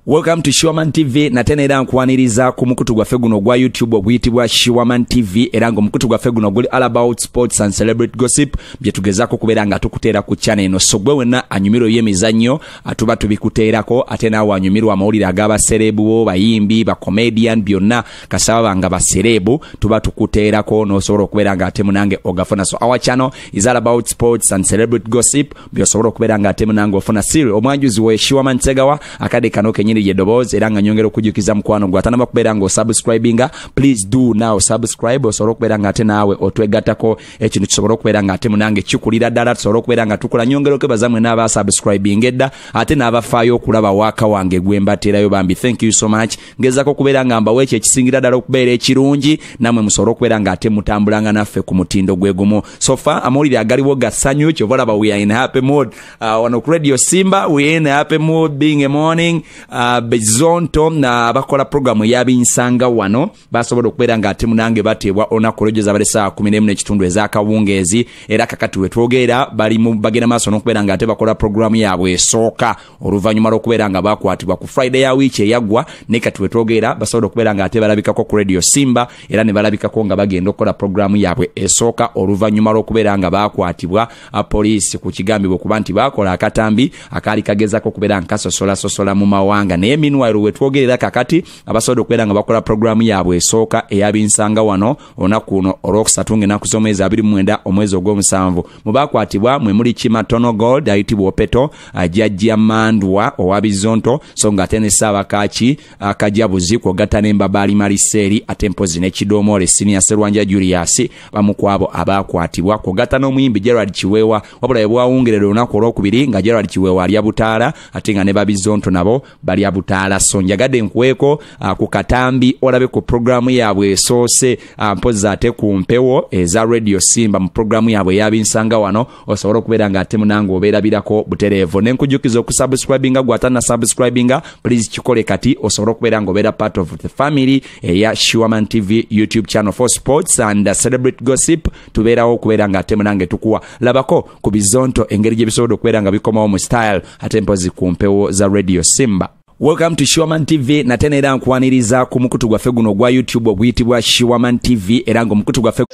welcome to shiwaman tv nate neera nkwaniriza ku mukutu gwaffe guno ogwa youtube oguyitibwa shiwaman tv era ngaomukutu gwaffe guno guli all about sports and celebrate gossip byetugezaako okubeera nga tukuteera ku chana eno so gwe wenna anyumirwa ebyemizannyo atuba tubikuteerako ate naawe anyumirwa amawulire ag'abasereebu bo bayimbi bacomedian byonna kasaba banga basereebu tuba tukuteerako n'osobola okubeera nga ate munange ogafuna so our channel is all about sports and celebrate gossip byosobola okubeera nga ate munange ofuna siri omwanjuzi we shiwama nsegawa akade kano kenyini lye ddoboozi era nga nyongera okujjukiza mukwano gwe atanaba kubeera nga osubscribinga please do now subscribe osobola okubeera nga ate naawe otwegattako ekintu kisobola okubeera nga ate munange kikulira ddala tusobola okubeera nga tukula nyongera okwebaza mwena abasubscribinga edda ate n'abafaayo okulaba waaka wange gwe mbateerayo bambi thank you so much ngezako okubeera nga mbawo ekyo ekisingira ddala okubeera ekirungi namwe musobole okubeera nga ate mutambulanga naffe ku mutindo gwe gumu so far amawulire agaliwo ga ssanyu kyova olaba we are in happy mood uh, wano ku radio simba we are in happy mood being a morning uh, bezonto na abakola programu eyabinsanga wano basobola okubeera nga ate munange bateebwa olunaku olwejjo zabadde saa kumi nemu n'ekitundu ez'akawungeezi era kakati wetwogeera bali bagenda maaso n'okubeera nga ate bakola programu yaabwe esooka oluvannyuma lw'okubeera nga bakwatibwa ku friday ya wiiki eyaggwa naye kati wetwogeera basobola okubeera nga ate balabikako ku radio simba era ne balabikako nga bagenda okukola pulogulaamu yaabwe esooka oluvannyuma lw'okubeera nga bakwatibwa poliisi ku kigambibwa okuba nti baakola akatambi akaali kagezako okubeera nga kasosolasosola mu mawanga naye minwairo wetwogerera kakati abasobola okubeera nga bakola pulogulaamu yaabwe esooka eyabinsanga wano olunaku luno olwokusatu ngaenaku z'omwezi abiri mwenda omwezi ogw'omusanvu mu bakwatibwa mwe muli kima tono gold ayitibwa opeto ajajja mandwa owa bizonto so nga ate ne saabakaki akajabuzi kwogatta n'embabaali maliseeri ate mpozi n'ekidoomoole siniya serwanja julius bamu ku abo abaakwatibwa kwogatta n'omuyimbi gerald kiweewa wabula bwe bwawungerera olunaku olwokubiri nga gerald kiweewa alya butaala ate nga ne babizonto nabo balya butaala so njagade nkweko ah, ku katambi olabe ku programu yaabwe esoose ah, mpozi ate ku mpewo eza radio simba mu programu yaabwe eyabinsanga wano osobola okubeera nga ate munange obeerabirako butereevu ne nkujukiza okusubscribinga gwatana subscribinga please kikole kati osobola okubeera nga obeera part of the family eya shiwaman tv youtube channel for sports and celebrate gossip tubeerawo okubeera nga ate munange tukuwa labako ku bizonto engeri gye bisobola okubeera nga bikomawo mu style ate mpozi ku mpewo za radio simba welcome to shiwaman tv nate neera nkwaniriza ku mukutu gwaffe guno ogwa youtube oguyitibwa shiwaman tv era ngaomukutu gwaffe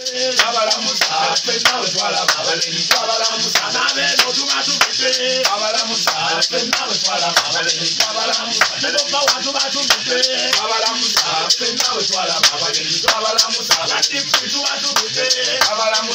Abalamusa,